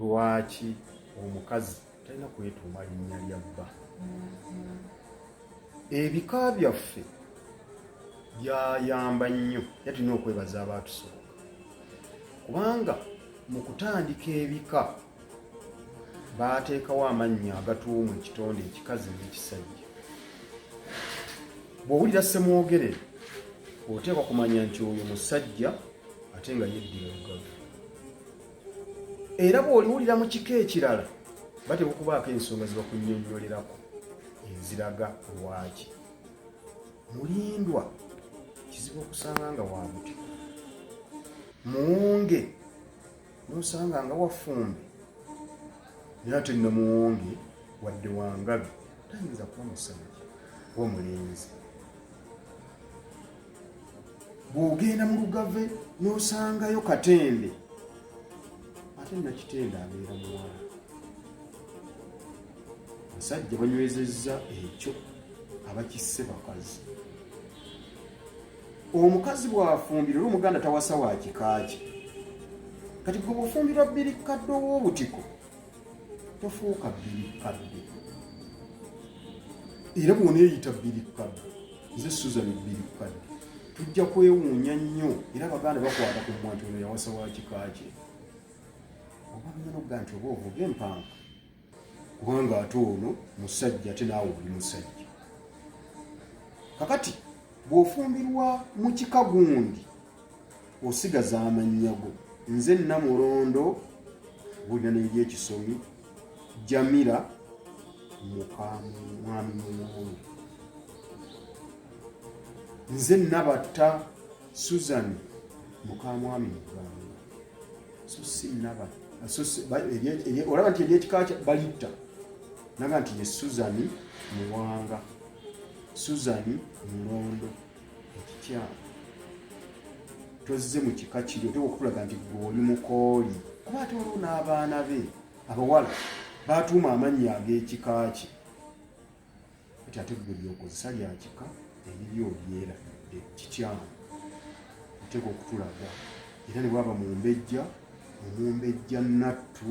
Lwaki omukazi talina kwetuuma linnya lya bba? Ebika byaffe byayamba nnyo era tulina okwebaza abaatusooka kubanga mu kutandika ebika baateekawo amannya agatuumu ekitonde ekikazi n'ekisajja. Bw'owulira ssemwogerere oteekwa kumanya nti oyo musajja ate nga yeddira lugavu. era bw'oliwulira mu kika ekirala batera okubaako ensonga zibakunyonyolerako eziraga lwaki mulindwa kizibu okusanga nga wabuti muwunge nosanga nga wafumbe naye ate nno muwunge wadde wangabi tayinza kuba musajja oba mulenzi bw'ogenda mu lugave n'osangayo katende ate nakitende abeera muwala musajja banywezezza ekyo abakisse bakazi omukazi bw'afumbira olwo omuganda tawasa wa kika kye kati gwe bw'ofumbirwa bbiri kadde ow'obutiko tofuuka bbiri kadde era bwoneeyita bbiri kadde nze susan bbiri kadde tujja kwewuunya nnyo era abaganda bakwata ku mwanti ono yawasa wa kika kye oba bimana okuga nti oba ovuga empanka kubanga ate ono musajja ate naawe oli musajja kakati bw'ofumbirwa mu kika gundi osigaza amannya go nze namulondo bulina neri ekisomi jamira mukamwami mulungi nze nabatta susan mukamwami mugamba so si nabatta olaba nti eryekika balitta naga nti ye suzani muwanga suzani mulondo ekikyamu tozze mu kika kiri oteeka okutulaga nti gwe oli mukooli kuba ate waliwo n'abaana be abawala baatuuma amannya ag'ekika kye ati ate gwe lyokozesa lya kika eriri olyera ekikyamu oteeka okutulaga era ne bwaba mumbejja omumbejja nattu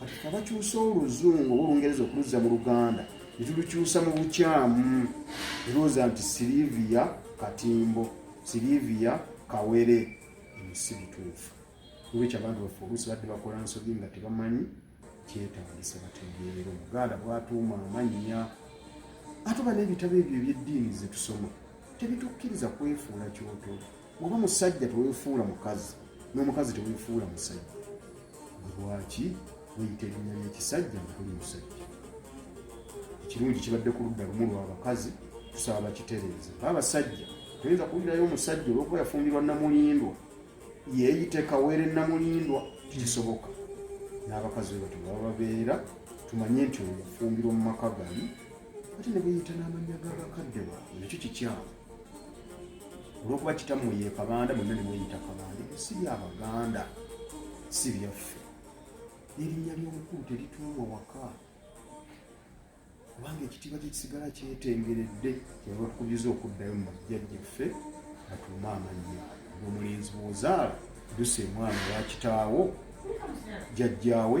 kati kabakyusa oluzungu oba olungereza okuluzza mu luganda netulukyusa mu bukyamu erooza nti silivia katimbo silivia kawere si bituufu olwekyo abantu baffe oluusi badde bakola nsobi nga tebamanyi kyetandisa bategeerera omuganda bwatuuma amannya ate oba n'ebitabo ebyo ebyeddiini zetusoma tebitukkiriza kwefuula kyoto oba musajja tewefuula mukazi n'omukazi tewefuula musajja lwaki weyita erinnya ly'ekisajja nga tuli musajja ekirungi kibadde ku ludda lumu lw'abakazi tusaba bakitereeze baabasajja toyinza kuwulirayo omusajja olwokuba yafumbirwa namulindwa yeeyite kawere namulindwa tekisoboka n'abakazi be batyo baba babeera tumanye nti oyo yafumbirwa mu maka gali ate ne buyita n'amannya ga bakadde baabwe nakyo kikyamu olwokuba kitamu ye kabanda mwenna ne mweyita kabanda ebyo si bya baganda si byaffe n'erinnya ly'omukulu terituulwa waka kubanga ekitiibwa kyekisigala kyetengeredde kyeva tukubiza okuddayo mu bajjajjaffe batuume amannya omulenzi bwozaala dusa emwana wa kitaawo jjajjaawe